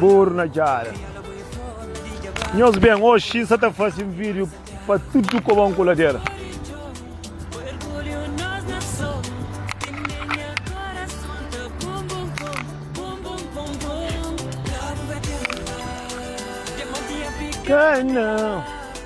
Buru na djada Nhos ben, oxi N sa ta fase un video pa tudu ku bon kuladera. Ka na.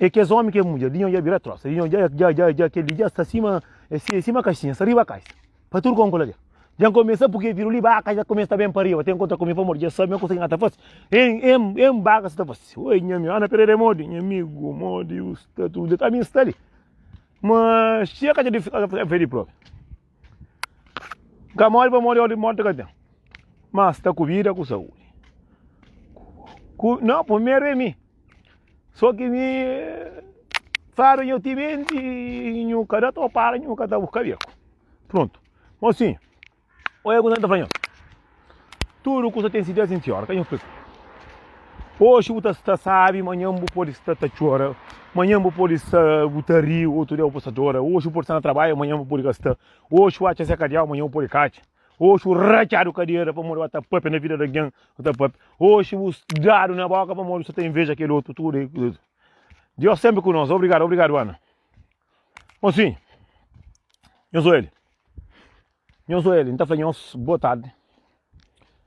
E kes omi ke mudjer dinho dja bira trosa dinho dja dja dja dja kel li dja sta sima sima kaxinha sta riba kaxa pa tur kon kula dja dja n komesa puke viru li baka dja komesa ta ben pa riba ten kontra ku mi pamodi dja sabe ma kusa ki na ta fasi em em em baka sa ta fasi oi nha ami ana pereira e modi nha amigu modi u sta tu dja ta ami sta li ma xia ka dja di fika fedi probi N ka móre pamodi ódi di mórti ka ten, má sta ku vida ku saúdi. Nau, primeru é mi, so ki mi fadu nhu timenti y nhu ka da topadu, nhu ka ta buska beku. Prontu. Mosinhu, oi agu na N ta fla-nho. Tudu kusa ten si dés intiora ka nha fla-s Oxi bu ta sta sábi, manhan bu pode sta ta txora Manhan bu pode sta bu ta ri, otu dia bu pode sta dora Oxi bu pode sta na trabadju, manhan bu pode ka sta Oxi bu atxa se kadiau, manhan bu pode ka atxa Oxi bu ratxadu kadera pamodi bu ta pâpia na vida di algen bu ta pâpia Oxi bu dadu na bóka pamodi bu sta ta inveja kel otu Tudu é kuza Diós sénpri ku nos Obrigadu, obrigadu Ana Bon si, nhos oja li Nhos Oeli, nta fla nhos boa tarde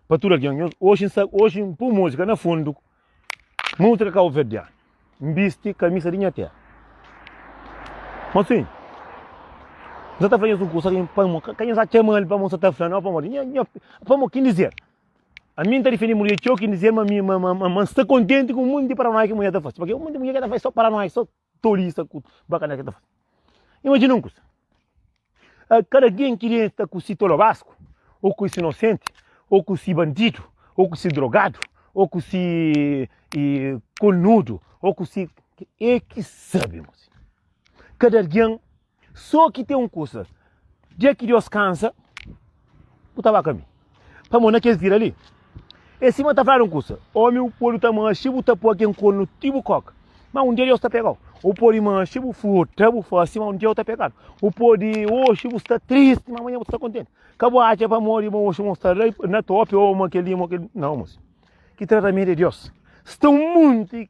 pa tudo alguém. Nhos, hoje, hoje um pum música na fundo, música cabo verdeano. Viste camisa de minha terra. Mas sim, nta tá fla nhos um curso, alguém para mo, quem já chama ele para mo, tá fla não, para mo, para mo, quem dizer. A mim tá defendendo mulher, que eu quem dizer, mas, mas, mas, mas está contente com o mundo de Paranoia que mulher tá fazendo. Porque o mundo de mulher que tá fazendo só Paranoia, só Tolisa ku bakané ki ta faze. Imajina un kuza, kada algen ki li sta ku si tolo basku, ô ku si inosenti, ô ku si bandidu, ô ku si drogadu, ô ku si kornudu, ô ku si. E ki sabe, kada algen. Só ki ten un kusa, dia ki Deus kansa, bu ta ba ka mi. Pamodi na kes dia dali, e sima ta fladu un kusa, Ómi, bu pode ta manxe, bu ta poi ken konu ti bu koka, má un dia Deus ta pega-u. Bu pode manxe, bu furta, bu fase, má un dia bu ta pegadu. Bu pode oxi bu sta tristi, má amanhã bu ta sta kontenti. Ka bu atxa pamodi ma oxi ma bu sta na topi ô ma kel-li ô ma kel-li. Nau, mos. Ki tratamentu di Deus? Sta un monti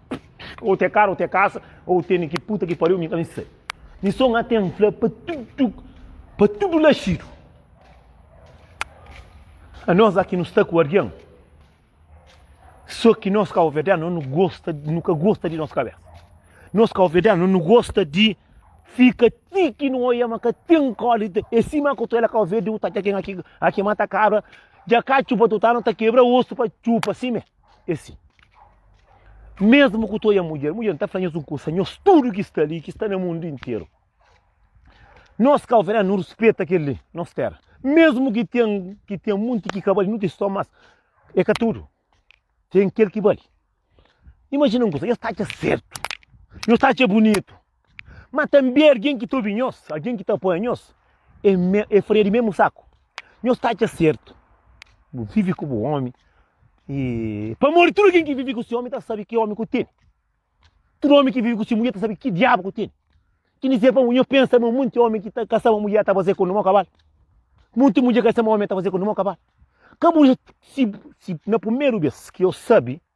Ou te cara ou te casa, ou teni ki puta ki pariu, mi ka sei. Mi só nga tem fla pa tudo, pa tudo laxido. A nós aqui nos está com alguém. Só que nós cá ovedar não nos gosta, nunca gosta de nossa cabeça. Nós cá ovedar não nos gosta de fica tiki no olha mas que tem cole e cima que tu ela cá ovedar tá aqui aqui mata cabra já cá chupa tu tá não tá quebra osso para chupa assim mesmo. É si, mesmu ku toia mudjer, mudjer nta fla nhos un kusa, nhos tudu ki sta li, ki sta na mundu interu, nos kau fernando nu rispeta kel li, nos tera, mesmu ki ten, ki ten munti ki ka bali, nu ten ston, mas e ka tudu, ten kel ki bali. Imajina un kusa, nhos ta atxa sertu, nhos ta atxa bunitu. Má tanbê algen ki ta obi nhos, algen ki ta apoia nhos, é, me, é farinha di mésmu saku. Nhos ta atxa sertu bu vive ku bu ómi, i pamodi tudu algen ki vive ku se ómi ta sabe ki ómi ku tene. Tudu ómi ki vive ku se mudjer ta sabe ki diabu ku tene. Ki ni ser pa nhos pensa ma monti ómi ki ta kasa ma mudjer ta faze ku numa kabal. Monti mudjer kasa ma ómi ta faze ku numa kabal. Ka bu, si, si na primeru bês ki nhos sabe.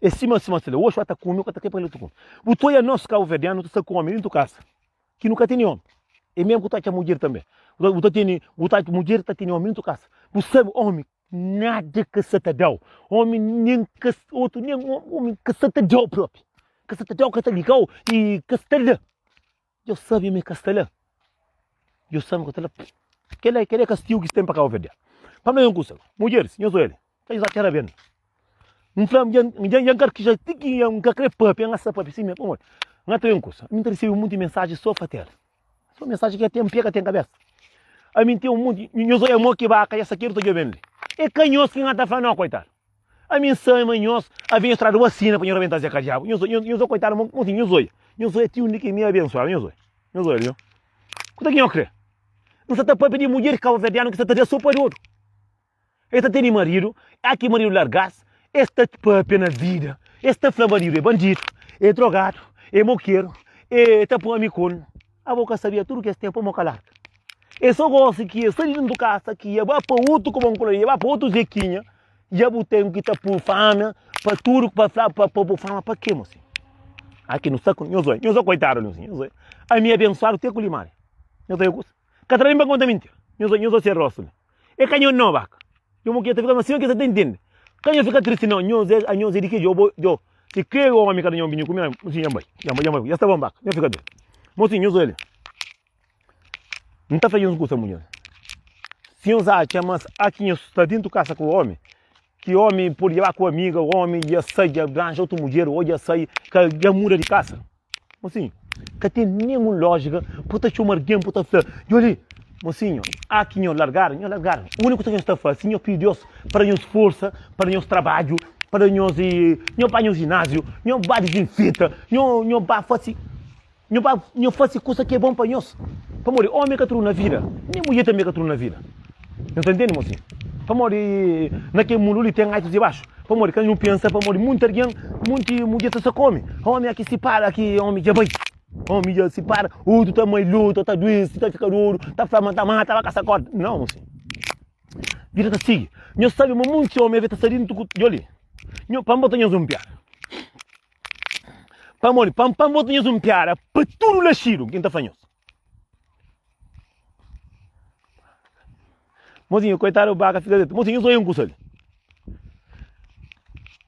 É sima sima sila, oxi ata kumi, ata ke pali tuku. Bu ta oia nos Cabo Verdeano, ta sa ku omi dintu kasa, ki nu ka teni omi. É mesmu ku ta atxa mudjer tambe. Bu ta teni, bu ta, mudjer ta teni omi dintu kasa. Bu sabe omi nada ka sa ta dau, omi nen ka, otu nen, omi ka sa ta dau propi, ka sa ta dau, ka sa ta ligau, i ka sa ta da. Djo sabe ma e ka sta la. Djo sabe ma ka ta la. Kel la, kel é kastigu ki es ten pa Kabo Verde. Pa no é un kusa. Mudjeris, nhos oja li. Ka nhos atxa rabia-m. N fla-m, N dja, dja N karkija ti ki N ka krê pape, N asa pape si mê. Pamodi? N ata é un kusa. Mi ta resebe monti mensaji so pa tera. So mensaji ki ka ten pé, ka ten kabesa. Ami N ten un monti. Nhos oja mo ki baka, dja sakedu ta djobe-m li. É ka nhos ki N ata fla no, koitadu. A minha sã e manhós, a vinha estrada uma sina para nho rebentar Zé Cadiabo. Nho zoi, nho zoi, coitado, mão, assim, nho zoi. Nho zoi é tio Nick me abençoado, nho zoi. Nho zoi, viu? Quanto é que nho crê? Não se tá para pedir mulher cabo-verdiano que se tá de sopa de ouro. Ele tá tendo marido, há que marido largasse, ele tá papia na vida. Ele tá falando marido é bandido, é drogado, é moqueiro, é tá para um amicone. Abo ka sabia tudo o que es tem pamo ka larga e so gosi ki e sai di dentro casa ki ia ba pa outro como um colorido ia ba pa outro zequinha ia bu tem ki ta pur fama pa tudo pa fla pa pa bu fama pa que mosi aqui no saco nho zoi nho zoi coitado nho zoi nho zoi a mi abençoado te com limari nho zoi ka tra bem para conta mentira nho zoi nho zoi ser rosto E ka nho no baka. Nho mo ke ta fika ma sima ke sa ta intende. Ka nho fika tristi no. Nho ze, a nho ze di ke djobo djo. Si kre o omi ka da nho binho ku mi, mo si nho bai, nho bai, nho bai. Ya sta bon baka, nho fika ben. Mo si nho zoli. Nta fla nhos un kusa mu nhos. Si nhos atxa ma a ki nho sta dintu kasa ku omi, ki omi pode dja ba ku amiga, omi dja sai dja ranja otu mudjer o dja sai ka dja muda di kasa. Mosinho, ka tem nenhum lógica por ta chama alguém por ta falar. E olha, mosinho, há que nós largar, nós largar. O único que nós está fazendo, nós pedir Deus para nós força, para nós trabalho, para nós e nós vai no ginásio, nós vai desinfeta, nós nós vai fazer nós vai nós fazer coisa que é bom para nós. Para morrer, homem que tudo na vida, nem mulher também que tudo na vida. Não tá entendendo, mocinho? Pamodi naquele mundo ali tem altos e baixos. Pamodi quem não pensa, pamodi muito alguém, muito mulher tá só come. Homem aqui se para, aqui homem já vai. Homem já se para, outro tá mais luta, tá doente, tá ficando ouro, tá flamando, tá mata, tá caça corda. Não, mocinho. Vira tá sigue. Nós sabe, mas muito homem tá saindo de ali. Nós, pambo tá nós um piar. Pamodi, pam, pambo tá nós um piar. Para tudo laxido, quem tá fanhoso. Mozinho, koitadu di baka fika zê. Mozinho, sou eu nkusa li.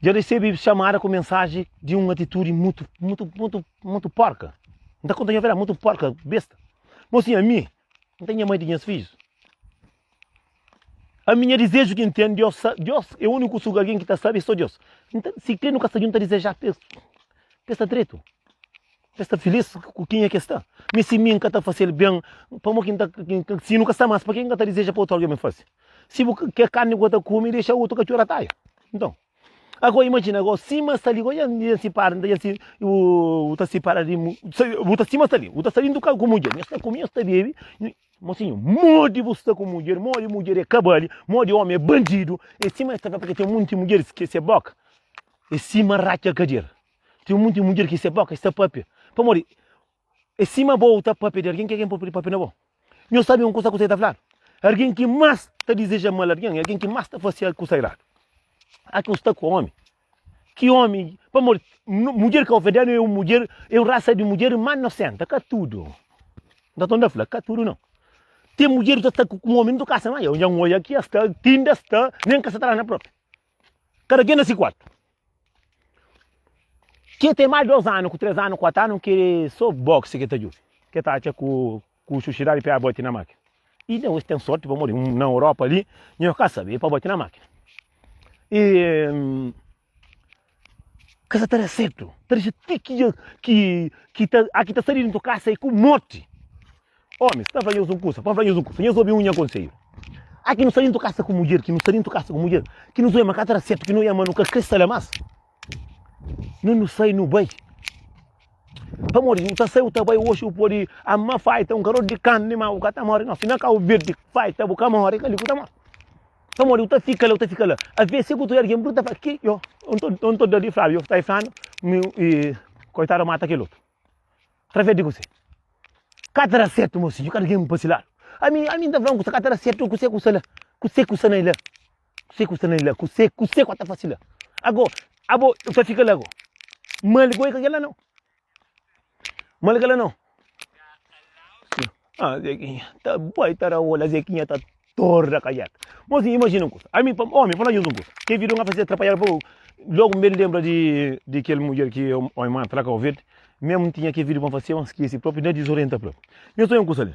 Dja resebi xamada ku mensaji di un atitudi mutu, mutu, mutu, mutu porka. N ta konta nha verdadi, mutu porka, besta. Mozinho, ami, n ta nha mai di nhas fijus. Ami nha dizeju ki ntende Dios sa, Dios é uniku suga algen ki ta sabe so Dios. Nta si kre nu ka sta djunta dizeja pa es pa es sta dretu, pa es sta filís ku kenha ki es sta. Mi si mi nka ta fasel ben pamo ki nta si nu ka sta mas pa ke nka ta dizeja pa otu algen ben fase? Si bu ke karni ku ta kume dexa otu katxor ataia. Nton ago imajina ago sima sta li ago ya ya n sipara nta ya si bu ta sipara di bu ta sima sta li bu ta sta di ntu kaza ku mudjer nhos ta kume nhos ta bebe. Mocinho, modi bu sta ku mudjer, modi mudjer é kabali, modi omi é bandidu, é sima es ta fla pa ke ten monti mudjeris ke se boka é sima ratxa kadjer, ten monti mudjer ke se boka es ta papia, pamodi é sima bo ta papia di algen ke algen pode papia na bo. Nho sabe un kusa ku se ta fladu, algen ki mas ta dizeja mal algen é algen ki mas ta fase kusa iradu. Aki un sta ku omi, Ki omi, pamodi mudjer kaverdianu é un mudjer, é un rasa di mudjer más nosenta, ka tudu, nta tonta fla, ka tudu no. Ten mudjer ta sta ku un omi, nu ta kasa, ma eu nha oia ki es ta, ti inda es ta, nen ka sa ta la na propi. Kada ken na si kuartu. Ke ten más dos anu ku tres anu, kuatu anu, ke sô boxe ke ta djobe, ke ta atxa ku. Ku susidadi pa e abati na makina. E nau es ten sorti pamodi na Europa ali, nho ka sabi, e pa bati na makina. E hum, ka sa ta da certo. Ta dixi ti ki, ki, ki ta, a ki ta sali dintu kasa e ku morti. Omi, sta fla nhos un kusa, pa fla nhos un kusa, nhos obi un nha konselhu. A ki nu sa dintu kasa ku mudjer, ki nu sa dintu kasa ku mudjer, ki nu zoi ma ka ta da certo, ki nu ema, nu ka kre sala mas. Nu nu sai nu bai. Pamodi si bu ta sai bu ta bai oxi bu podi ama faita un karotu di karni ma bu ka ta mori no. Si na Kabu Verdi faita bu ka mori kali ku ta mori. Pamodi bu ta fika la bu ta fika la. Aves si ku ta ergin bruta fala ki yo un ta dadi Flavio yo sai flanu mi koitadu mata kel otu. Traves di kuse? Ka ta da sertu mosinhu ka ta geni pa si ladu. Ami ami ta fla un kusa ka ta da sertu kuse ku sa la kuse ku sa na i la. Kusé ku sta na li la? Kusé, kusé ku a ta fase la? Ago, abo bu ta fika la ago? Mal goi ka ke la nau. Mal ke la nau. Ah, Zequinha, ta bai ta ra ola, Zequinha ta torra kajaka. Mas sim, imagina un kusa. Ami, pa, omi, fala nhos un kusa. Ke vida un a fase atrapalhada pa bu. Logu mbe lembra di, di kel mudjer ki omi manda pa la Kau Verde. Mesmu tinha ke vida pa un fase, omi skese propi, na dizorienta propi. Nhos ta obi un kusa li.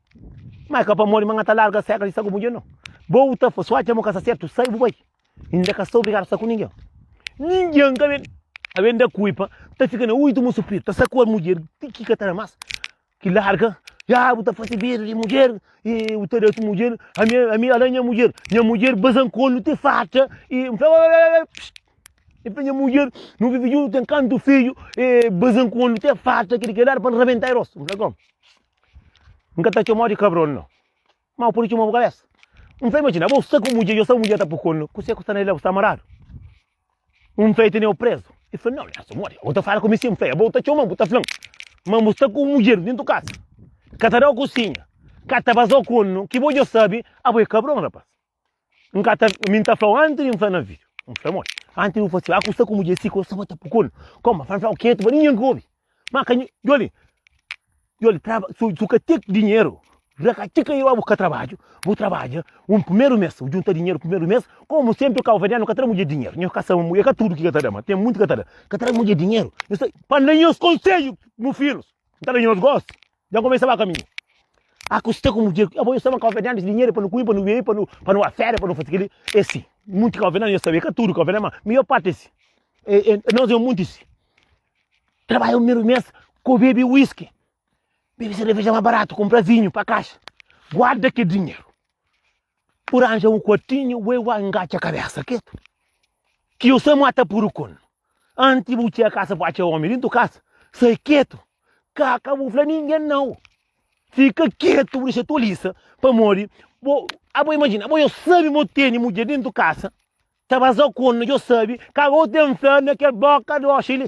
Ma é ka pamodi ma nha ta larga seka di sta ku mudjer no. Bo bu ta fla, si u atxa ma ka sta sertu, sai bu bai. I N ka sta obrigadu sta ku ningen. Ningen ka ben ta ben da kulpa, ta fika na uidu ma supridu, ta sakual mudjer ti ki ka ta da mas, ki larga. Ya bu ta fasi medu di mudjer, i bu ta da ki mudjer, ami, ami ala nha mudjer, nha mudjer bazankonu ti fatxa, i N fla, oooiiioi pss, i N fla, nha mudjer nu vivi juntu ten kantu fiju, i bazankonu ti fatxa, kidi ki el da pa N rabental i rostu. N fla, gom. N ka ta txoma-u di kabron, no. Má bu pode txoma-m bu kabésa. N ta imajina bo sta ku mudjer i osta bu mudjer ta pukon-u. Kuzê ku sta na el la? Bu sta maradu? N fla, E tene-u prezu. El fla, Nau, nhas amor, abo ta fla ku mi si. N fla, Abo ta txoma-m, bu ta fla-m ma bu sta ku mudjer déntu kaza, ka ta da-u kusinha, ka ta baza-u ku un ki bo dja sabe. Abo é kabron, rapas. N ka ta, mi ta flau anti di N fla na vídeo. N fla modi? Anti di N fla si, ah, ku sta ku mudjer si, ku sta ba ta pukul. Koma? N fla flau ketu pa ninguén ka obi. Ma ka, joli, joli, traba, su, su ka tek dinheru, ra ka txi ka i ba buska trabadju, bu trabadja un primeru mes, bu djunta dinheru primeru mes, komu senpri kauverianu ka tra mudjer dinheru, nhos ka saba mu, e ka tudu ki ka ta da, ma ten munti ka ta da, ka tra mudjer dinheru. Nhos ta, pa N da nhos konsedju, mu filhus, N ta da nhos gosi. Dja kumesa ba kaminhu. A kusta ku mudjer. Abo nhos ta ba konfia dentis di nhede pa nu kume, pa nu bebe, pa nu pa nu afera, pa nu fasi kili. E si. Munti konfia na nhos ta ben. Ka tudu konfia na ma maior parti e si. E e nos e un munti si. Trabadja un primeru mes ku bebe whisky, bebe sereveja ma baratu, kumprazinhu pa kaxa. Guarda ki dinheru. Bu ranja un kuatinha, ué, uá, ingatxa kabésa ketu. Ki yo sa mata puru kun. Anti bu txia kasa bu atxa omi dintu kasa, sai ketu. Ka ka bu fla ningen nau. Fika ketu, bu dexa tolisa. Pamodi, bo, abo imajina, abo yo sabi mo teni mudjer dintu kasa, ta baza kun, yo sabi, ka bo ten fé na kel boka di oxa li.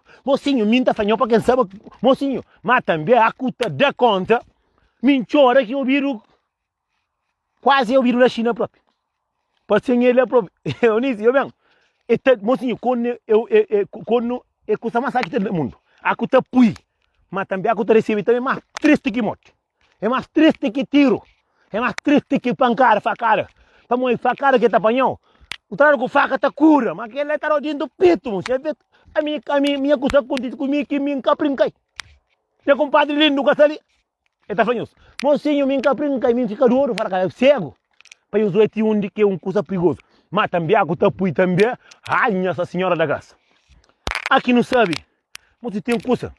Mosinho, mi nta fanhou pa ken saba Mosinho, ma tanbe a ku ta da konta mi ntxora ki obidu kuazi obidu la xina propi pa sen el la propi eu ni si yo ben e ta Mosinho konu eu konu e kusa mas sa ki ta da mundu a ku ta pui ma tanbe a ku ta resebe tanbe ma tristi ki morti É más tristi ki tiru É más tristi ki pankada, fakada Pamo é fakada ki ta panha-u Kutradu ku faka ta kura Má kel-la é tarau dentu petu Mon xef é Ami, ami, ami nha kusa kontenti ku mi ki mi N ka prinka-i Nha kunpadri lindu ka sta li El ta fla nhos Mosinhu, mi N ka prinka-i Mi N fika dodu, fala ka el Segu pa nhos bai ti undi ki é un kusa prigozu Má tanbê aku ta pui tanbê Ai, Nhasa Sinhora da Grasa Aki nu sabe. Mo si ten kusa.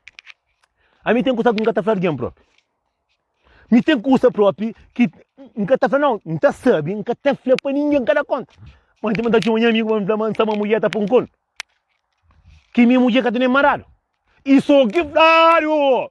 Ami ten kusa ki n ka ta fla algen propi. Mi ten kusa propi ki n ka ta fla, não, n ta sabe, n ka ta fla pa ninguém, n ka da conta. Mas tem ta tchau nha amigo pa mi fla, mas sa ma mulher ta pon colo. Que minha mulher ka tem nem marado. E só que flado.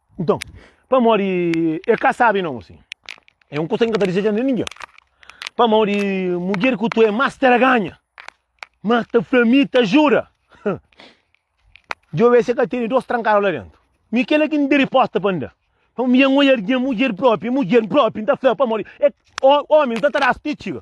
Nton, pamodi el ka sabe non si. É un kusa ki N ka ta dizeja na ningen. Pamodi mudjer ku tu é más traganha, más ta fla mi ta ajuda. Djobe se ka tene dos trankadu la dentu. Mi kela ki N da riposta pa N da. Pamodi mi N odja algen, mudjer propi, mudjer propi N ta fla pamodi é omi, N ta trás ti txiga.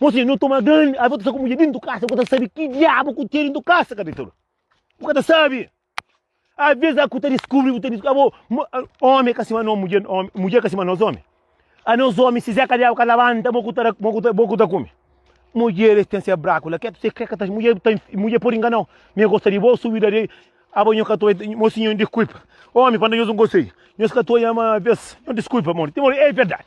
Mosi, nu toma grandi avi, ta sta ku mudjer dentu kasa, bu ka ta sabi ki diabu ku ten dentu kasa, ka detedu. Bu ka ta sabi. Aves a ku ta diskubri, bu ta diskubri, abo, omi ka sima no mudjer, mudjer ka sima nos omi. A nos omi, si zeka diabu ka labanta, bo ku ta, bo ku ta, bo ku ta kumi. Mudjer es ten se braku la, ke, se ke ka ta, mudjer ta, mudjer podi inganau. Mi gosta di bo, subida di, abo nho ka ta oi, mosi nho diskuipa, omi panda nhos un konsei, nhos ka ta oi ama aves, nho diskuipa, mon, ti mon, e verdadi.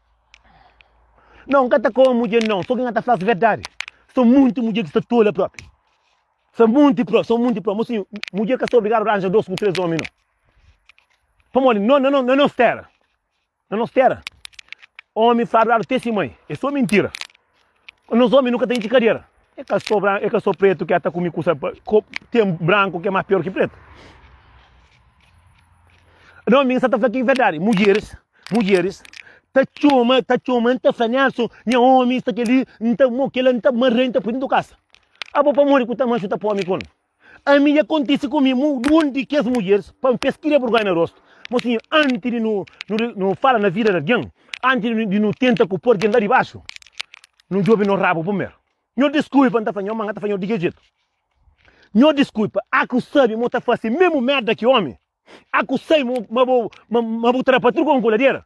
Não, nka ta koma mudjer não, so ki nha ta fla-s verdadi, so munti mudjer ki sta tola propi, so munti propi, so munti propi, mo sinhu, mudjer ka sta obrigadu ranja dos ku tres omi não, pamodi no, na no, na nos tera, na nos tera, omi fla verdadi te si mai, e so mintira. Nos omi nu ka ta intxi kadera. É ka sô bran, é ka sô pretu ki a ta kume kusa pa ko, ten branku ki é más pior ki pretu. Não, mi sa ta fala ki é verdade. Mulheres, mulheres ta txoma, ta txoma, n ta fala Nelson, nha omi sta keli, n ta mo kela, n ta marra, n ta pui dentro do casa. Abo pamodi ku ta manxu ta pome kon? Ami dja kontise ku mi, mu da un di kes mudjeris pa mi, pa es kria burgonha na rostu. Mo sinhor, antis di nu nu fala na vida di algen, antis di nu tenta ku pô algen la dibaxu, nu djobe nos rabu primeru. Nho diskulpa, N ta fla nho ma N ta fla nho di kes djetu. Nho diskulpa, a ku sabe ma bu ta fase memu merda ki omi? A ku sabe ma bu trapa tudu kon ku ladera?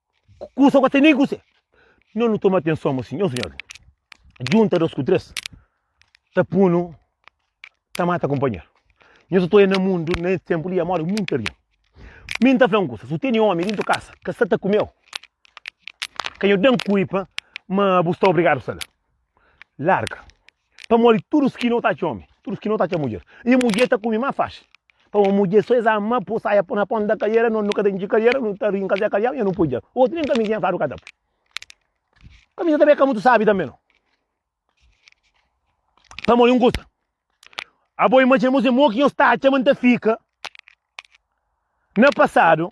Kusa ku atende ku se. Nhos nu toma atenson ma si nhos nhos djunta dos ku tres ta punu ta mata kunpanheru. Nhos ta oja na mundu na es tempu li amor é muntu algen. Mi N ta fla-m kusa, si bu tene omi dentu kasa ka sa ta kume-u, ka nhos da-m kuipa ma bu sta obrigadu sta la. Larga. Pamodi tudus ki no ta atxa omi, tudus ki no ta atxa mudjer, i mudjer ta kume más faxi. Pa un mudjer so es ama pô saia na ponta da kaliera, no no ka ta intxi kaliera, no ta rinka se kaliau i no poi dja. Otu nen kamizinha fadu ka ta poi. Kamiza ta ben ka mutu sabi tanbe no. Pamodi un kusa, abo imajina bo si mo ki nhos ta atxa ma N ta fika na pasadu,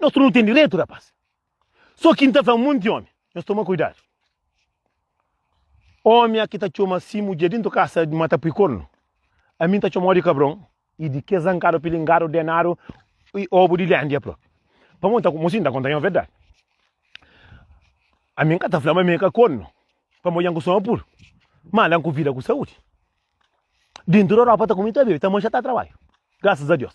Nos tudu nu ten diretu rapaz. So ki N ta fla monti omi, nhos toma kuidadu. Omi a ki ta txoma si mudjer dintu kasa ma ta pui kornu, ami N ta txomau di kabron i di kes zankadu, pilingadu, denadu i obu di lendia propi. Pamo N ta mo si N ta konta nha verdadi. Ami N ka ta fla ma mi ka kornu, pamo dja N kustuma puru mala N ku vida ku saudi. Dintu di Europa ta kume ta bebe, ta manxa ta trabadja, grasas a Deus.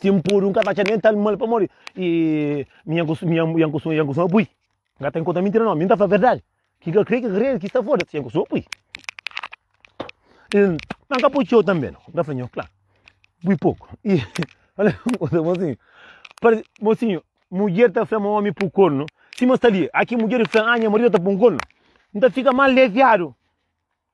Sin puru, N ka ta atxa nen tal mal pamodi mi N ka kustuma apoia. N ka ta inkontra mintira no mi, N ta fla verdadi. Ki ka krê ki ka krê, ki sta foda-s, N kustuma apoia. Ma N ka poi txeu tanbe no, N ka fla nho, kla, pui poku. I fala un kuza, fla mosinhu, parse, mosinhu, mudjer ta fla ma omi pui kornu sima sta li. A ki mudjer fla, nha maridu ta pui un kornu, N ta fika mal leviadu.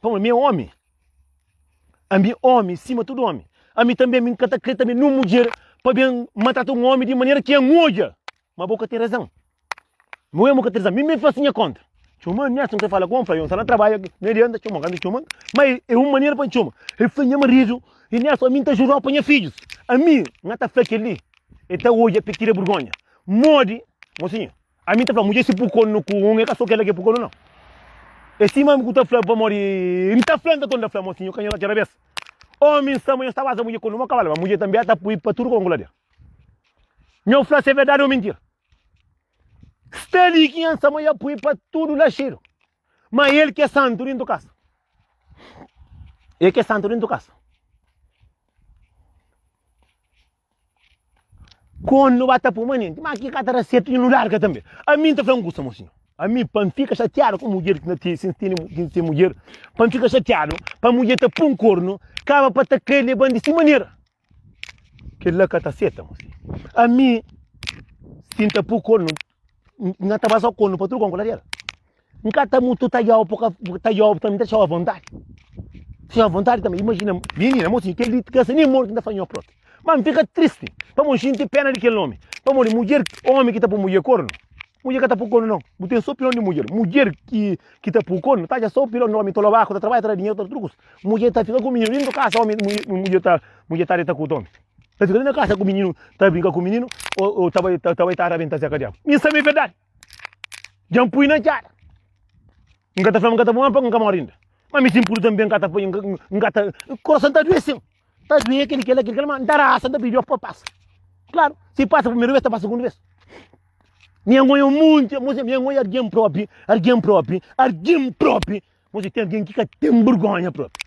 Pamodi mi é ómi. Ami, ómi, sima tudu ómi. Ami tanbê, ami n ka ta krê tanbê nun mudjer pa ben ma trata un ómi di manera ki N odja. Má bo ka ten razan. Bo mê mo ka ten razan. Mi mê faze nha kónta. Txoma-m, nha si N krê fala ku ôm, fla, Jon, sta na trabadja, mi adianta txoma-m. Kantu el txoma-m, má é un manera pa N txoma. El fla, Nha maridu, i nha si, ami N ta jurau pa nha fidjus. Ami, N ta fla kel-li, el ta odja p'e tira burgónha. Modi, mosinhu, A mi ta fla, mudjer si pukonu ku un, e ka so kela ke pukonu nau. E sima ami ku ta fla pamodi N ta fla, nta-ton ta fla mo si nho ka nho ta txera bes. Omi N sa ma nho sta baza mudjer ku numa kaval, ma mudjer tanbe a ta pui pa tudu kon ku lader. Nho fla se verdadi o mintira. Sta li ki N sa ma ya pui pa tudu laxedu, ma el ke santu dintu kasa. El ke santu dintu kasa. Kon nu ba ta puma nenti, ma ki ka ta da sertu i nu larga tanbe. A mi N ta fla un kusa, mosinhu. A mi, pa N fika xatiadu ku mudjer ki na tene, si N tene, si N tene mudjer, pa N fika xatiadu, pa mudjer ta pun kornu, kaba pa ta kre leban di si manera. Kel-la ka ta seta, mosinhu. A mi, si N ta pun kornu. Nga ta basa konu pa tudu kon ku ladeira. Nga ta mutu ta jau poka ta jau também ta chau vontade. Chau vontade também. Imagina, menina, moço, que ele cansa nem morto ainda fanhou pronto. Mas fica triste. Para mim, gente pena daquele homem. Para mim, mulher, homem que está para mulher corno. Mulher que está para corno, não. Não tem só opinião de mulher. Mulher que que está para corno, tá já só opinião de homem. Tô lobaco, tá trabalha, tá dinheiro, tá trucos. Mulher tá fica com menino, nem do caso, homem, mulher tá, mulher tá de tá com o homem. Ta fika li na kasa ku mininu ta brinka ku mininu ou ta bai ta bai ta rabenta zé kadiabu. Min sabe verdade. Já me pui na cara. Nunca ta fala nunca ta bom para nunca morre ainda. Mas me simpuro também nunca ta nunca ta coração ta doer sim. Ta doer aquele que aquele mas da raça da pediu para passa. Claro, se passa primeira vez ta passa segunda vez. Minha mãe é muito, minha mãe é alguém próprio, alguém próprio, alguém próprio. Mas tem alguém que tem vergonha próprio.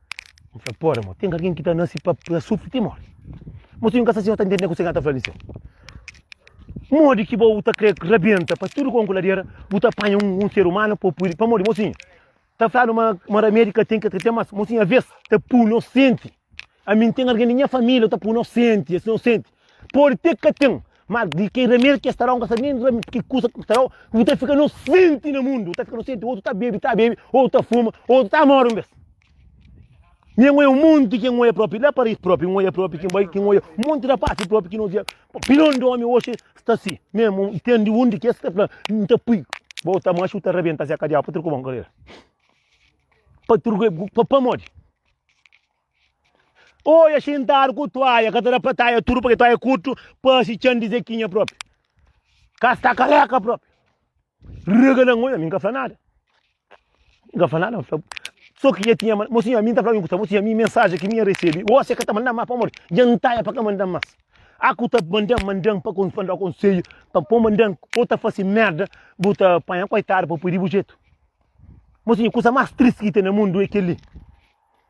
N fla, pô, Ramon, ten algen ki ta nase pa sufri ti móre. Mo si un ka sta sin, N ta ntende kuzê ki el ta fla di se. Modi ki bo ta krê rabenta pa tudu kon ku ladera, bu ta panha un ser umanu pa pui-l. Pamodi, mosinhu, ta fladu ma ramedi ka ten ki el ta ten, mas, mosinhu, alvês ta pui-nu senti. Ami, N ten algen di nha família, el ta pui-nu senti, es ta pui-nu senti. Pode te ka ten, mas di ke remedi ke sta da, un ka sabe nen remedi di ke kusa ke sta da, bu ta fika inosenti na mundu, bu ta fika inosenti, otu ta bebe, ta bebe, otu ta fuma, otu ta mori un bes. Mi é ngoia un monti ke ngoia propi, la Paris propi, ngoia propi, ki bai, ki ngoia un monti rapasi propi ki nos via, opinion di omi oxi sta si, memu i ten di un di kes ki ta fla, N ta pui, ba u ta manxa, u ta rebenta se kadiau, pa tur ku bon karera, pa tur, pa pamodi. Oia xintadu ku tuaia ka ta da pa taia tudu pake tuaia kurtu pasi txan di zekinha propi ka sta kaleka propi rega na ngoia mi nka fla nada mi nka fla nada mi fla so ki ja tinha mo sinha mi nta fla mi kusa mo sinha mi mensaji ki mi ya resebi osia ka ta manda ma pamodi ja ntaia pa ka manda mas aku ta mandan mandan pa kon fanda konselhu pa po mandan o ta fasi merda bu ta panha koitadu pa pudi bu jetu mo sinha kusa mas triste ki ten na mundu e keli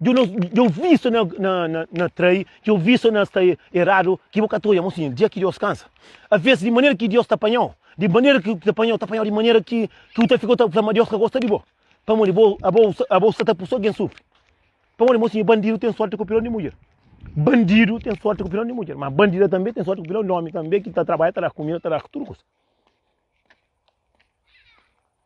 Djo nos, djo vi sa na na na na trai, djo vi sa na sta eradu, ki bo ka ta oja mo siña, dja ki Deus kansa. Aves di manera ki Deus ta panhau, di manera ki ta panhau, ta panhau di manera ki ki u ta fika u ta fla ma Deus ka gosta di bo. Pamodi bo abo abo sa ta pui so gen sufri. Pamodi mo siña bandidu ten sorti ku pilon di mudjer. Bandidu ten sorti ku pilon di mudjer, ma bandida tambe ten sorti ku pilon di omi tambe ki ta trabalha ta da kumida ta da tudu kusa.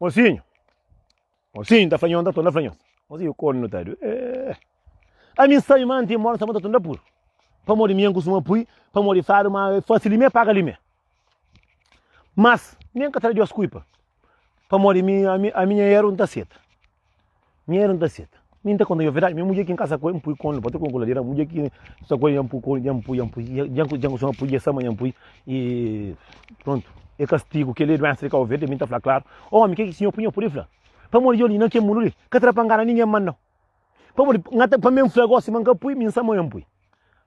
Mosinho, mosinho, ta flanhonta, tonda flanhonta. Mosinho, quando não tá doido? É. A mim sai man tem mora, sabota tonda puro. Para mori minha costuma pui, para mori fado, mas fácil limé, paga limé. Mas, nem que traz duas cuipa. Para mori minha, a minha erro não tá certa. Nha era nta seta. Mi nta konta-u verdadi, mi mudjer ki nkasa ku el, npui konu, npoti konu ku ladeira, mudjer ki nsa ku el, nha npui konu, nha npui, nha npui, nha ku djangu soma pui, dja sama, nha npui, e prontu. E kastigu, kel-li e duensa di Kau Verdi, mi nta fla klaru, Omi, ke ki sinhor pui nha pudi fla? Pamodi djoli, na kel mundu li, ka tra pa ngana ningen ma nau. Pamodi, pa mi nfla gosi ma nka pui, mi nsama nha npui.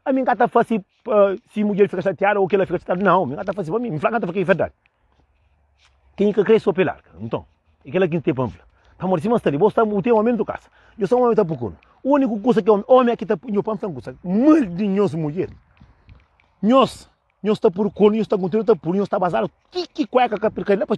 A mi ka ta fasi uh, si mudjer fika chateada ou kela fika chateada. Não, mi ka ta fasi pa mi. Mi fala ka ta fika verdade. Quem ka cresce pe larga. Então, e kela quem te pamfla. Amor, se mas tá ali, você o teu homem do casa. Eu sou um homem tá procurando. O único coisa que homem, homem aqui tá eu pam tá coisa. Mal de nós mulher. Nós, nós tá procurando, nós tá contando, tá por nós tá bazar. Que que cueca que perca lá para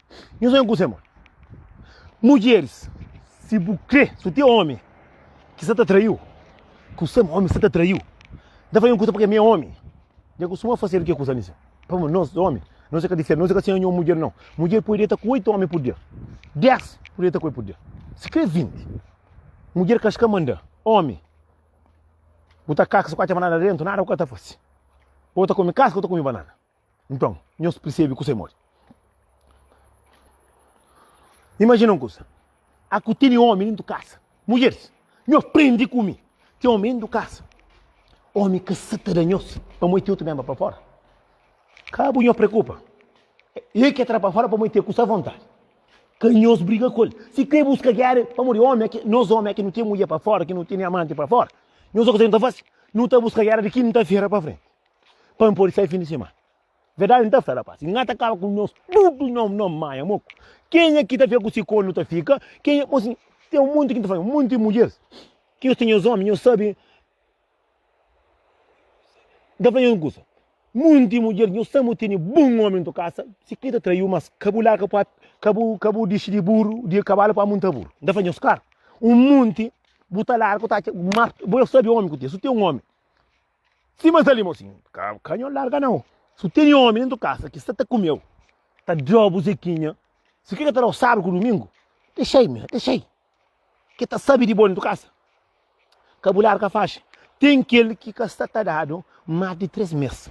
Nhu sonha ku sema. Mudjeris, si bu crê, si bu ti omi ki sa ta traiu, ku sema omi sa ta traiu, da fai un kusa pake mi é omi. Nhu kustuma fasedu ke kusa nise. Pa ma nos omi, nos ka diferenti, nos ka sonha nhu mudjer nau. Mudjer pode deta ku oitu omi pur dia. Des pode deta ku el pur dia. Si crê vinti. Mudjer ka ska manda omi. Bu ta kaka, si bu ka atxa banana dentu, nada bu ka ta fase. Ou ta komi kaska ou ta komi banana. Nton, nhos persebe kuzê modi? Imajina un kuza, aku tene omi dentu kasa. Mudjeris, nhos prende ku mi, ten omi dentu kasa. Omi ka sa ta da nhos pamô e ten otu menba pa fora. Ka bu nhos preokupa, e ke tra pa fora pamô e ten ku sa vontadi. Ka nhos briga ku el. Si kre buska gera, pamodi omi ake, nos omi ake nu ten mudjer pa fora, ki nu tene amanti pa fora, nhos sa kuzê nu ta fasi? Nu ta buska gera di ki nu ta fera pa frenti. Pa N pode sai fin di semana Verdadi N ta fla rapaz N ta kaba ku nhos tudu Nhô nhô manha mo Kenha ki ta fika ku si kónjugi nu ta fika Kenha bo si Ten un monti ki N ta fla Un monti di mudjeris Ki nhos ten nhos ómi nhos sabe N ta fla nhos un kusa Un monti di mudjeris nhos sabe mo tene bon ómi na to kasa Si ki ta traiu mas ka bu larga pa Ka bu ka bu dixi di buru di kabalu pa munta buru N ta fla nhos kar Un monti bu ta larga bu ta atxa Mas bo sabe ómi ku ten Si bu ten un ómi Ki mas ali mosi? Ka, ka nho larga nau. Su teni omi dentu kasa ki sta ta kumeu, ta dra bu Zekinha. Si kre ka ta dau sabdu ku dumingu, dexai mi, dexai. Ke ta sabi di bo dentu kasa. Ka bu larga faxi. Ten kel ki ka sta ta dadu mas di tres mes.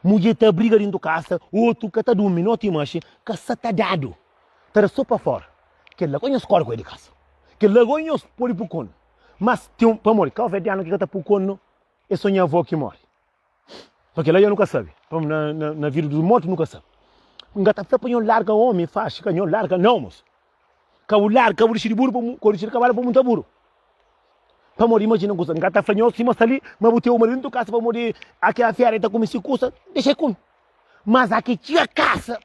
Mudje ta briga dentu kasa, otu ka ta dumi noti i manxi, ka sta ta dadu. Ta da so pa fora. Kel la, gosi nhos kori ku el di kasa. Kel la, gosi nhos podi pukonu. Mas ten un, pamodi ka oveja di anu ki ka ta pukonu. É só nha avó ki móre. Pa kel-la nha nu ka sabe. Pa na, na, na vida dos mortos nu ka sabe. N ka ta fla pa nho larga omi faxi, ka nho larga nau moço. Ka bu larga, ka bu dixi di buru, pa mu, ka bu dixi di kavalu pa munta buru. Pa modi imagina kusa, n ka ta fla nho sima sta li, ma bu teu marido nu tu kasa pa modi aki a fera e ta kume si kusa, dexei ku mi. Mas aki txiga kasa,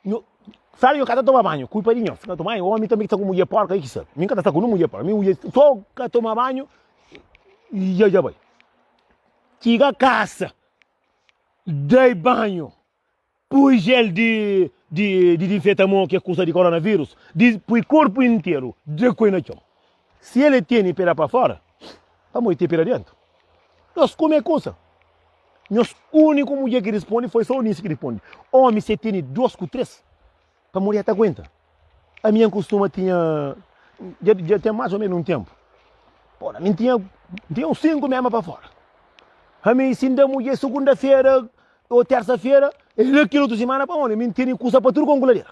Nhu, sabe, nhu ka ta toma banhu, kulpa di nho, fika toma banhu, omi tanbe ki sta ku mudjer porka, e ki sabe, mi ka ta sta ku nu mudjer porka, mi mudjer so ka toma banhu y dja bai, txiga kasa, dai banhu, pui gel di di dinfeta mo, ki é kusa di koronavirus, di pui korpu interu, dra-koi na txon. Si el e tene pera pa fora, pamodi te pera dentu? Nos kume kusa. Nhos uniku mudjer ki responde foi sa Eunice ki responde, Omi se tene dos ku tres, pamodi e ta aguenta. Ami N kustuma tinha, dja dja ten mas o menu un tenpu, bon ami N tinha N tinha uns sinku mema pa fora. Ami si N da mudjer segunda-fera o tersa-fera, e la kel otu simana pamodi mi N tene kusa pa tudu kon kuladera.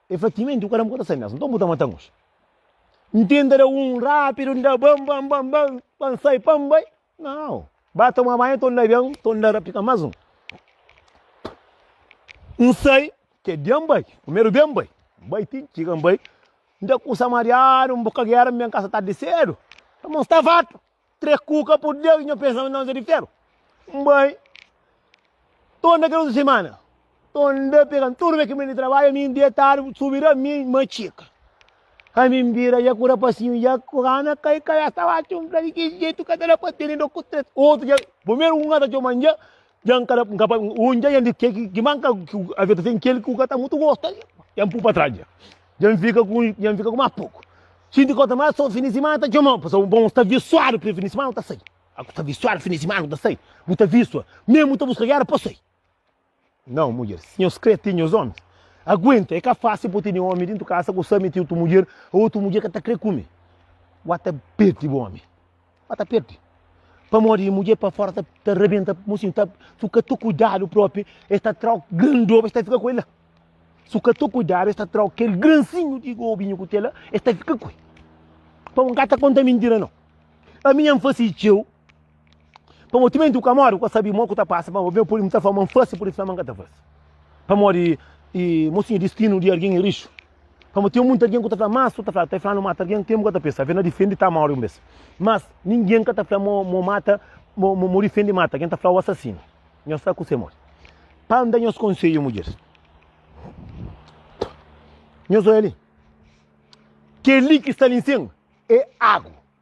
E fla, timenti, bu ka da-m kota sai mesmu, nton bu ta mata-m oji. N tenta da un rapidu, n da ban, ban, ban, ban, pa n sai, pa n bai, nau, ba toma banhu nton da ben, nton da rapika mas un. N sai, ke dia n bai, primeru dia n bai, n bai ti n txiga, n bai, n da kusa mariadu, n buka gera, n ben kasa tardi sedu, pamodi n sta fartu. Tre kuka por Deus nho pensaba nós é de ferro Mbai To anda kel otu semana To anda pegan tudo me kimene trabalha mi deitado subi da mi ma tchica Ai mi bira ya ku rapasinho ya ku rana kai kai Esta watch um bocado de jeito Ka ta da pa tene do ku tre Otu dja Primeiro um ata tchoma dja Dja n ka da, n ka pa, ô dja N di ke ki, kima n ka, ki avia ta sen kel ku ka ta mutu gosta li. Dja n pui pa tras dja. Dja n fika ku, dja n fika ku más poku. Sinti kota má so fin di simana ta txomau, pa so bon sta visuadu pa fin di simana ta sai. A ku ta visuadu fin di simana ku ta sai, bu ta visua, meme bu ta buska gera pa sai. Nau mudjer, si nhos kre ti nhos omis, aguenta, e ka fásil pa bu tene omi dentu kasa ku sa mete otu mudjer, ô otu mudjer ka ta kre ku mi. Wata perde bu omi. Ba ta perde. Pamodi mudjer pa fora ta, ta rabenta mocinho, ta, su ka tu cuidado próprio, es ta trau gran doba, es ta fica com ele. Su ka tu cuidado, es ta trau aquele grancinho de gobinho que tem lá, es ta fica com ele. Então não ta conta mentira não. A minha face teu, para o timento que amor, que sabe mal que tá passa, para o meu por muita fama face, por isso fama que tá face. Para o e mocinho destino de alguém é lixo. Pamodi ten muita algen ku ta fla, mas su ta fla, ta fla nu mata algen, kemu ka ta pensa? Afe na difendi ta mori un bes. Mas ningen ka ta fla mo mo mata, mo mo difendi mata, ken ta fla o asasinu. Nhos sta ku se modi? Pa N da nhos konsedju, mudjeris, nhos oja li, keli ki sta li nsin e agu.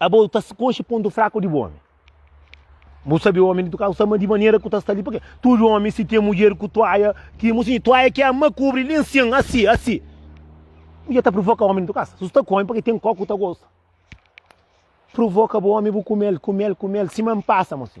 Abo ta skoxe pontu fraku di bu omi. Bu sabe omi di tuka, sama di manera ku ta sta li, pake tudu omi si ten mudjer ku tuaia, ki musi tuaia ki ama kubri li nsin, asi, asi. Mudjer ta provoka omi di tukasa, su sta ku omi pake ten koku ta gosta. Provoka bu omi bu kumel, kumel, kumel, siman pasa musi.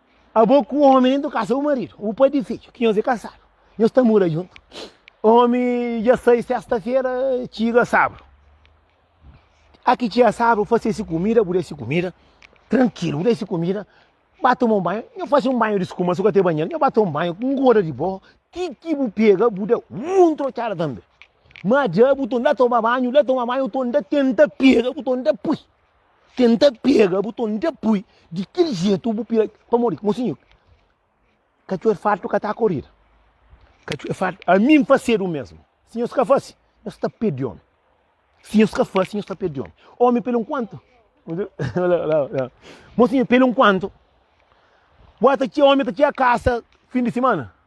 Abo ku omi indu kasa bu maridu, bu pai di fidju, ki nhos e kasadu, nhos ta mura djuntu. Omi dja sai sesta-fera, txiga sabru. A ki txiga sabru, fase si kumida, bu da si kumida, trankilu, bu da si kumida, ba toma un banhu, nhos fase un banhu di skuma, si bu ka ten banheru, nhos ba toma un banhu, un goda di bohu, ti ki bu pega, bu da un trotxada tanbe. Ma dja bu ta un da toma banhu, da toma banhu, bu ta un da tenta pega, bu ta un da pui. tenta pega bu ton dja pui di kel jetu bu pira pa mori mosinho kacu é fartu ka tá corrida kacu é fartu a mim facedo o mesmo se nhos ka face nhos ta perde homem se nhos ka face nhos ta perde homem homem pelo enquanto mosinho pelo enquanto bota txê homem ta txê a caça fim de semana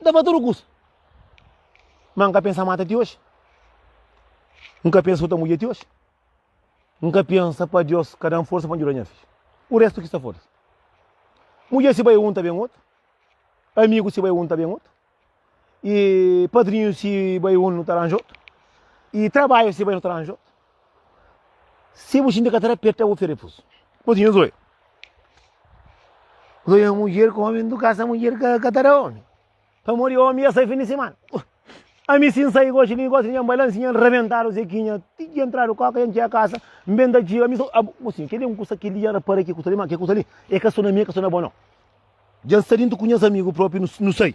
N ta fla tudu kusa. Má N ka pensa mata ti oji. N ka pensa xuta mudjer ti oji. N ka pensa pa Deus ka da-m forsa pa N djuda nha fidju. Ku réstu ki sta fora-s. Mudjer si bai un ta ben otu. Amigu si bai un ta ben otu. I padrinhu si bai un nu ta ranja otu. I trabadju si bai nu ta ranja otu. Si bu xinti ka ta da perta, bu feri fus. Mos nhos oi. Mos oi mudjer ku omi ndu kasa, mudjer ka ta da omi. Pamodi di omi, ya sai fin di simana. Ami si nsai goxi li, goxi li, nha balansi, nha rebentadu zekinha, ti ki entradu koka, nha ntxia kasa, mbenta djiga, mi so... Mosinho, keli un kusa, keli ya rapara ki kusa li, ma ke kusa li, e ka so na mi, e ka so na bo no. Dja nsta dintu ku nhas amigu propi, nu sai.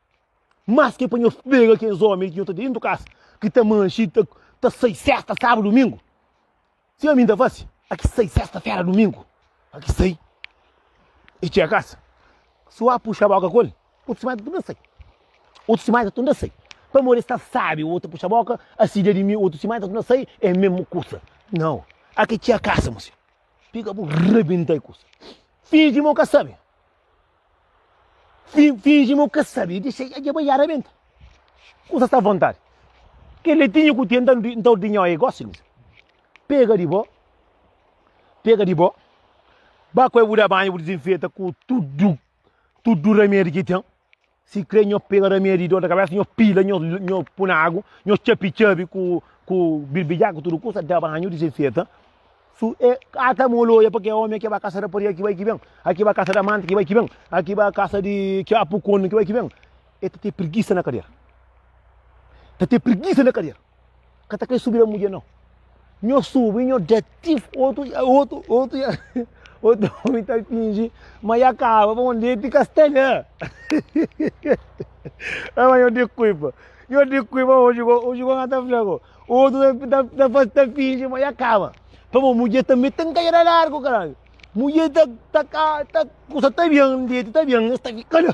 Mas ke pa nhos pega kes omi ki nhos ta dentu kas, ki ta manxi, ta, ta sai sesta, sabadu, dumingu. Si ami ta fasi, a ki sai sesta, fera, dumingu, a ki sai i txega kas. Si ua puxa boka ku el, otus mai ta tunda sai. Otus mai ta tunda sai. Pamodi e sta sabi, ua ta puxa boka, a sidia di mi, otus mai ta tunda sai, e mesmu kusa. Nau, a ki txega kas, mosio. Pega bu rabenta e kusa. Finji ma bu ka sabi. Fingi ma bu ka sabe e dexa dja bai yara benta. Kusa sta vontade. Que letinho que tem então dinho aí, gosta de Pega de bo, pega de bo, bá com a buda banho, desinfeta com tudo, tudo remédio que tem. Si kre nho pega da mia di dor da cabeça, nho pila, nho, nho puna água, nho txapi txabi ku, ku birbidja, ku tudo coisa, da banho, desinfeta. Su, é, eh, ata moloia, porque é homem, aqui vai caça rapariga, aqui vai que vem, aqui vai caça da manta, aqui vai que vem, aqui vai caça de que apucone, aqui vai que vem. É te ter preguiça na cadeira. Te ter preguiça na cadeira. Ka ta kre subi la mudjer nau. Nho subi, nho deti, otu, otu, otu, otu omi ta fingi ma ya kaba pa un deti ka sta la. Ama nho di kuipa. Nho di kuipa oji ko, oji ko nga ta fla ko. Otu ta, ta, ta, ta fingi ma ya kaba. Pa bo mudjer tambi ta nkajada largu karaju. Mudjer ta, ta ka, ta kusa ta bian, deti ta bian, nhos ta fika la.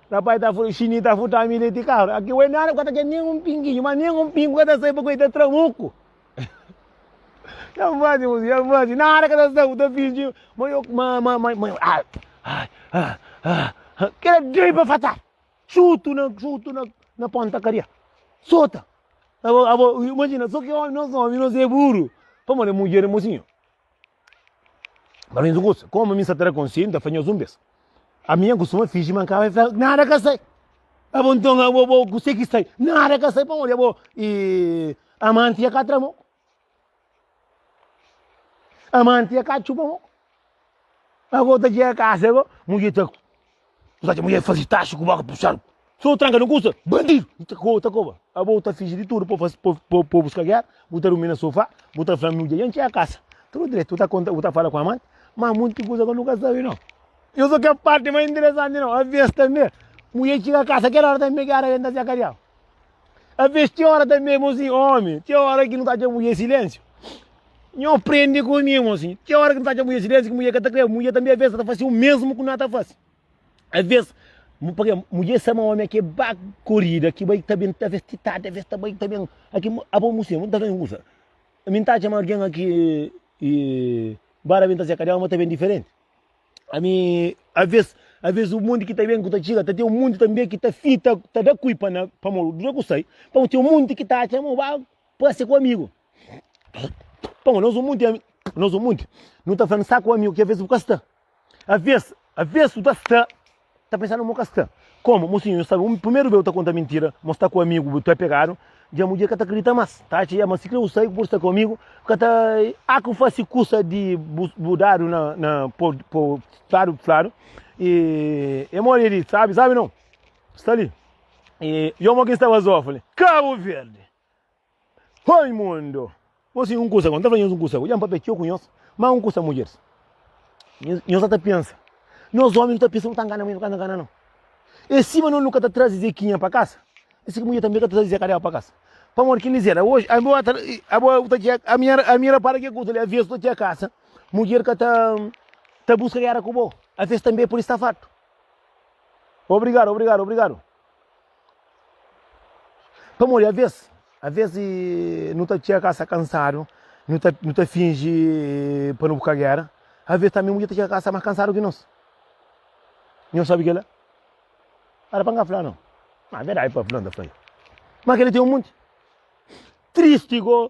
Rapazi ta fla, Xinii ta furta-mi leti di kabra. Aki oi nada ku ka ta txeu nen un pinginhu, ma nen un pingu ka ta sai, pabia oi ta tramuku. Ya N fazi kusi, ya N fazi, nada ka ta sai, bu ta finji ma yo, ma, ma, ma, ma, ai, ai, ah, ah, ah. Kila djei pa fata, xutu na, xutu na, na ponta kadia, sota. Abo, abo, imajina, so ki omi, nos omi, nos e buru, pamodi mudjer é mosinhu. Mas mi kusa, komu mi sa tra konselhu, nta fla nhos un bes. Ami nha kustuma finji ma N ka bai fla nada ka sai. A bo nton a bo bo kusé ki sai? Nada ka sai pamodi a bo i amanti nha ka tra mo. Amanti nha ka txuba mo. A bo ta txiga kasa a bo, mudjer ta. Kusa ki mulher fazi taxi ku boka puxadu so tranka no kusa bandidu i ta koba ta koba abo bu ta fingi di tudu pa faz pa pa bu ska guerra bu ta rumi na sofá bu ta fla mi dja dja ntxia kasa tudu dretu bu ta konta bu ta fala ku amante ma munt di kusa ku nu ka sabe no yo so kel parti mais interessante no aves tanbe mulher txiga kasa kel ora tanbe ki arabe nta siá kadiau. A ves ti ora tanbê mosi, omi, ti ora ki nu ta atxa mudjer silensiu. Nho prende ku mi mosi, ti ora ki nu ta atxa mudjer silensiu ki mudjer ka ta kre, mudjer tanbê a ves ta fase o mesmu ku na ta fase. A ves, pake mudjer sa ma omi a ke ba korida ki bai ta ben ta ves ti tardi, a ves ta bai ta ben a ke abo mu se, mu ta ben usa. Mi ta atxa ma algen a ke e ba ta ben ta se ka dela ma ta ben diferenti. Ami, Aves, aves un monti ki ta ben ku ta txiga, ta ten un monti tanbe ki ta fita, ta da kui pa na, pa mo, dura ku sai, pa mo ten un monti ki ta atxa mo ba prase ku amigu. Pa mo, nos un monti, ami, nos un monti, nu ta fla, N sta ku amigu, ki aves bu ka sta. Aves, aves bu ta sta. Ta pensanu mo ka sta. Komu? Mosinhu, nhu sabe, un primeru beu ta konta mintira, mo sta ku amigu bu, tu é pegadu. Dja mudjer ka ta kridita mas, ta atxa ia, ma si kre bu sai ku pode sta ku amigu, ka ta a ku fase kusa di bu, bu dadu na, na po, po, fladu, fladu. E, e modi e di, sabe, sabe nau, sta li. E, yo mo ki staba zófali, Kabu Verdi! Oi mundo! Gosi un kusa, quando ta fala nhos un kusa, ku dja papia txeu ku nhos, ma un kusa mudjeris, nhos sa ta pensa, nhos omi nu ta pensa nu ta ngana mudjer, nu ka ta ngana no, e sima no nu ka ta trazi zekinha pa kasa, e si ki mudjer tanbe ka ta trazi zeka dela pa kasa, pamodi kel izer a oji, abo atra, abo u ta txia, ami era, ami era para kel kusa li, aves u ta txia kasa, mudjer ka ta ta buska gera ku bo, aves tanbe pudi sta fartu. Obrigado, obrigado, obrigado. Pamodi avês, avês nu ta txega kasa kansadu, nu ta, nu ta finji pa nu bu ka géra, avês tanbê mudjer ta txega kasa más kansadu ki nos. Nhos sabe kel-la? Éra pa N ka fla nau. Má verdadi pa fla, N ta fla-l. Má kel-li ten un monti. Tristi gó.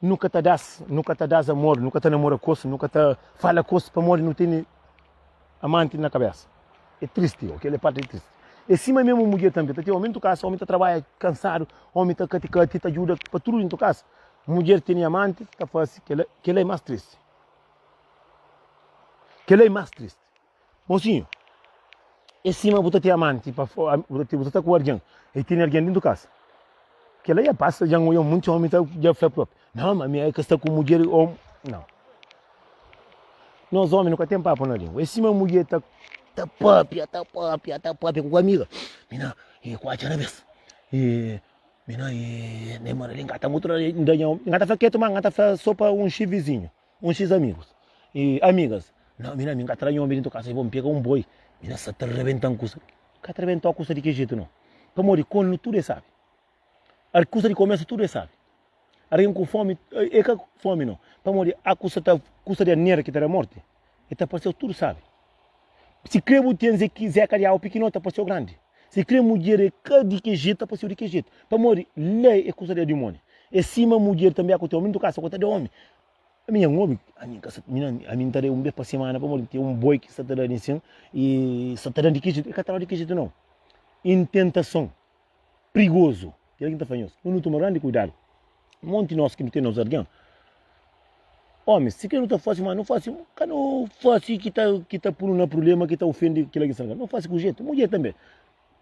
Nu ka ta da-s, nu ka ta da-s amor, nu ka ta namora ku es, nu ka ta fala ku es pamodi nu tene amanti na kabésa. É tristi, ô, kel-li é párti tristi. É sima mésmu mudjer tanbê. Ta ten ómi dentro di kasa, ómi ta trabadja kansadu, ómi ta kati-kati, ta djuda pa tudu dentro di kasa. Mudjer tene amanti, ta faze kel-la, kel-la é más tristi. Kel-la é más tristi. Mosinhu, é sima bu ta ten amanti pa fora, bu ta sta ku algen, i tene algen dentu kasa. Kela dja pasa, dja N odja monti omi ta dja fla propi, Nau, ma mi ka sta ku mudjer o. Nau. Nos omi nu ka ten papu na lingua. É sima mudjer ta ta pâpia, ta pâpia, ta pâpia ku amiga, Mi na e kuatxa na bes, e mi na e na e mora li, N ka ta mutra, N da nha omi. N ka ta fla ketu, ma N ka ta fla so pa un xi vizinhu. Un xis amigus y amigas, Nau, mi na mi N ka ta da nhomi di N ta kasa, y bo N pega un boi, mi na sa ta rebenta-m kusa. N ka ta rebenta-u kusa di ki jetu, nau. Pamodi kolnu tudu e sabi. Ar, kusa di komérsiu tudu e sabi. Argen ku fomi, e ka fomi, nau. Pamodi a kusa ta, kusa di a nera ki ta da morti, e ta parse-u tudu sabi. Si kre bu ten zeka di awa pikinó, ta paseu grandi. Si kre mudjer e ka di ke jetu, ta paseu di ke jetu. Pamodi la e kusa da dimoni. E sima mudjer tanbe aku teu. Mi N ta kasa ku ta da omi. Mi nha omi, ami N kasa, ami N ta da un bes pa simana pamodi ten un boi ki sa ta da di nsin i sa ta da di ke jetu, e ka ta da di ke jetu nau. I N tentason. prigozu. Kel ki ta fla nhos, nu nu toma grandi kuidadu. Monti nos ki nu ten nos argen, omis, si kre nu ta fasi mal, nu fasi, ka nu fasi ki ta ki ta punu na prubléma, ki ta ofendi kila ki sta na ka. Nu fasi ku jetu. Mudjer tanbe,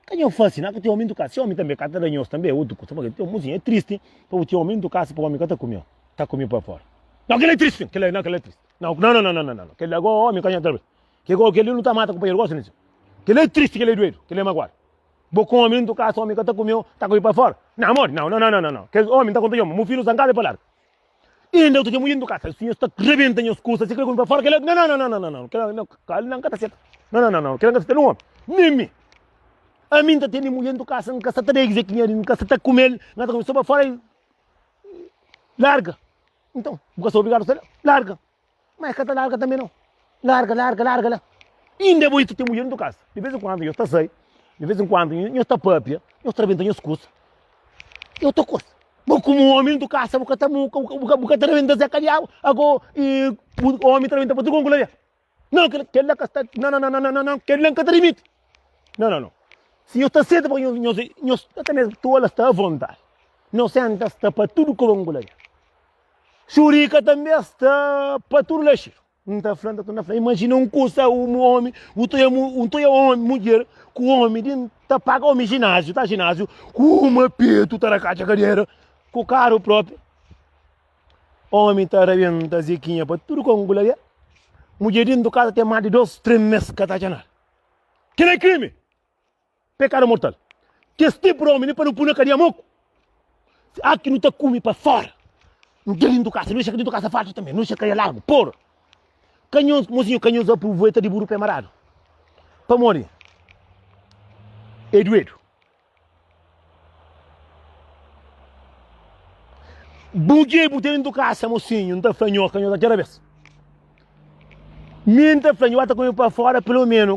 ka nho fasi na ku txeu omi ntukasi. Omi tanbe ka ta da nhos tanbe, é otu kusa. Pabia txeu muzinha é tristi pa bu txeu omi ntukasi pa omi ka ta kumio, ta kumio pa fora. Nau kel la é tristi, kel la nau kel la é tristi. Nau nau nau nau nau, kel la go omi ka nho ta. Ke go kel li nu ta mata kunpanheru gosi, kel la é tristi, kel la é duedu, kel la é maguadu. Bo kome, N tu kasa omi ka ta kumeu, ta kome pa fora? Nau amor, nau, nau, nau, nau. Kes omi N ta konta nhoma, mu fidju sta n kasa e pa larga. Inda otu dia mu iri N tu kasa, si nhos ta rebenta nhos kusa, si kre kome pa fora kela, nau, nau, nau, nau, nau, kela nau, kela N ka ta seta, nau, nau, nau, nau, kela N ka ta seta nen omi, nen mi. Ami N ta tene mulher N tu kasa, N kasa ta da el kuzê ki nha di, N kasa ta kumel, N kasa ta kumel so pa fora, larga. Nton, bu kasa obrigadu ta larga. Ma e ka ta larga tanbe nau. Larga, larga, larga la. Inda e bo i ta ten mudjer na to kasa. Di vez en kuandu nhos ta sai, di vez en kuandu nhos ta pâpia, nhos ta rabenta nhos kusa. E otu kusa, bo komu omi na to kasa, bo ka ta bu ka bu ka ta rabenta se ka diabu. Ago i bu omi ta rabenta pa tudu konku la dia. Nau, kel kel la ka sta, nau, nau, nau, nau, nau, kel la n ka ta rimiti. Nau, nau, nau. Si nhos ta seta pa nhos, nhos e nhos ata mésmu tola sta avonta. Nhos senta sta pa tudu konku la dia. Xurika tanbê es ta pa tudu la xeru. Un ta fla, ta fla, imagina un kusa, un omi, un toia, un toia omi, mudjer, ku omi, din, ta paga omi gináziu, ta gináziu, ku uma petu ta rakatxa kadera, ku karu própi. Omi ta rabenta zikinha pa tudu kon gula ya. Mudjer din do kasa tem má di dos, trem mes ka ta atxa nada. Kel é krimi! Pekadu mortal. Kes tipu di omi li pa nu pui na kadia moku. Aki nu ta kumi pa fora. Nu dja dintu kasa, nu dexa ki dintu kasa fartu tanbe, nu dexa kadia largu, por. Kanhons, mozinho kanhons aproveita di buru pe maradu. Pamodi e duedu. Bu dje bu te dintu kasa, mozinho, nta fla nho, kanhons atxa rabes. Mi nta fla nho, ba ta kumi pa fora, pelo menu.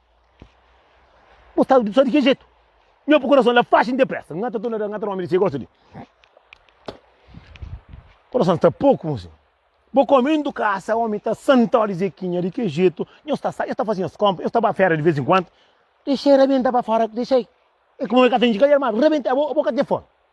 Bo sta só di ki jetu? Nho pa kurason la faxi depresa. Ngata tu lada, ngata omi di si gosta di. Kurason sta pouco mo senhor. Bo come indo casa, omi ta santa di Zequinha di ki jetu? Nho sta sai, nho sta fazi nhas compra, nho sta ba fera di vez em quando. Deixei rabenta pa fora, deixei. É como é que tem de calhar, mas rabenta, bo, bo ka tem fome.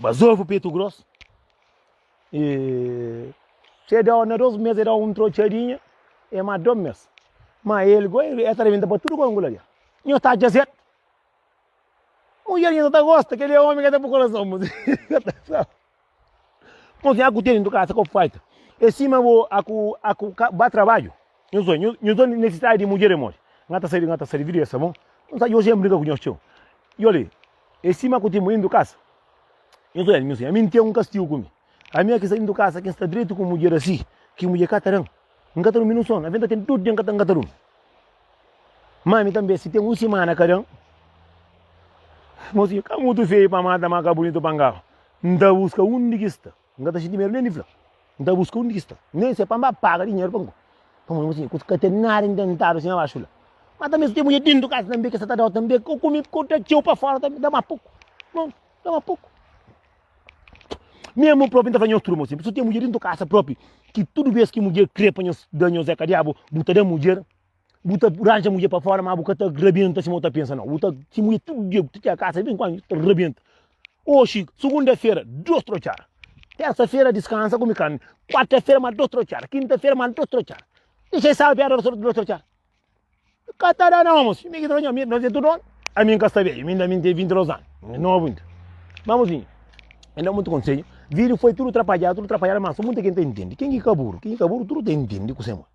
Bazofu petu gros. E se da na dos mes e da un trotxadinha, e ma dos mes. Ma el go e ta rebenta pa tudo gongula li. Nho ta dja zet. Mulher nho ta gosta, kel é homem que tem pro coração. Mas Mos nha ku teni ndu kasa ko faita. E sima bo aku aku ba trabalho. Nhos dói, nhos, nhos dói nessidadi di mudjer emóji. Nga ta sari, nga ta sari, vidu esa mó. Nhos sabi, oji N brinka ku nhos txeu. I ol li, e sima ku ti mu indu kasa. Nhos ol el, nhos di, ami N ten un kastigu ku mi. Ami aki sa indu kasa, ki N sta dretu ku mudjer asi, ki mudjer ka ta dan. N ka ta durmi nun sonu, avi N ta ten dos dia N ka ta, N ka ta durmi. Ma ami tanbe, si ten un simana ka dan. Mosinhu, ka mutu feiu pa mata, ma ka bunitu pa ngaba. N ta buska undi ki sta. N ka ta xinti medu nen di fla. N ta buska undi ki sta. Nen se pa N ba paga dinheru pa N ku. Pamodi N konxi ku ka ten nada intentadu sin abaxu la. Mas tanbe si ten mudjer dentu kasa tanbe ki sa ta dau tanbe ku ku mi ku ta txeu pa fora tanbe da ma puku. Bon, da ma puku. Memu propi N ta fla nhos turma si ten mudjer dentu kasa propi ki tudu bes ki mudjer kre pa nhos da nhos é ka diabu bu ta da mudjer. Bu ta ranja mulher pa fora, mas bu ka ta rabenta sima bu ta pensa, não. Bu ta, se mulher tudo dia, tu tira casa, vem com a ta rabenta. Hoje, segunda-feira, dois trocar. Terça-feira, descansa, come carne. Quarta-feira, mais dois trocar. Quinta-feira, mais dois trocar. Deixa essa alveada dois trocar. Catará não, moço. Me que trocar, me nós é tudo ano. A mim casta velho, ainda me tem 22 anos. Novo ainda. Vamos sim. Ainda muito conselho. Vídeo foi tudo atrapalhado, tudo atrapalhado, mas só muita gente entende. Quem que caburo? Quem que caburo, tudo entende com o Senhor.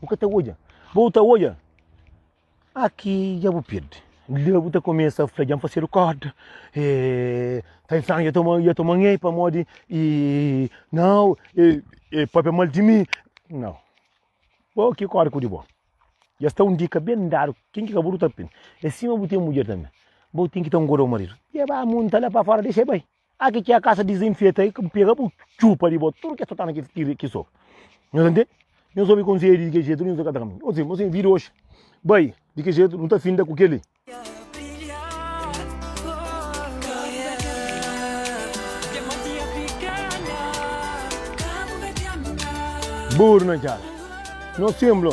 Bu ka ta odja. Ba bu ta odja. Aki dja bu pirdi. Dja bu ta kumesa fla dja N fasedu korda. E, ta infernu dja toma, dja toma nhei pamodi e, nau, e, e papia mal di mi. Nau. Bo ki korda ku di bo. Dja sta un dika ben dadu. Ken ki kabudu ta pin. E sima bu ten mudjer tanbe. Bo ten ki ta ngoda bu maridu. Dja ba munta la pa fora, dexa el bai. Aki ki é a kasa dizenfeta, e ka pega bu txupa di bo, tudu kes ta na kes tira ki so. Nhos entende? Nhos obi konsedju di ke jetu, nhos akata kaminhu. Ô sim, ô sim, vida oxi bai di ke jetu, nu ta finda ku kel-li. Buru na txada, nos tenplu.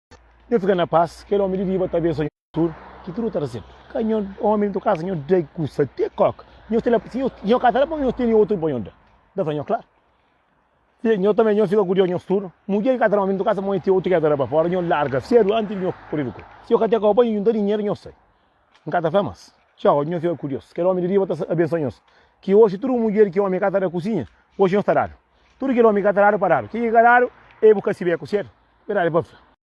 Nhô fika na pas, kel omi di riba ta abensoa nhô tur, ki tur nhô ta resebe. Ka nhô omi di to kasa, nhô da e kusa te kóka. Nhô ta la, si nhô ka ta la pa nhô, nhô teni otu pa nhô da. Da fla nhô, klaru. Fia, nhô tanbe nhô fika kuriozu, nhô tur, mudjer ki ka ta la omi di to kasa, ma nhô ten otu ki el ta la pa fora, nhô larga sedu antis di nhô kuri di kó. Si nhô ka te kó pa nhô, nhô ta dinheru, nhô sai. N ka ta fla más. Txau, nhô fika kuriozu. Kel omi di riba ta abensoa nhô. Ki oxi tur un mudjer ki omi ka ta da kusinha, oxi nhô ta dadu. Tur kel omi ki ka ta dadu, pa dadu. Ki ki ka dadu, e bu ka sibi é ku sedu? Verdadi pa fla.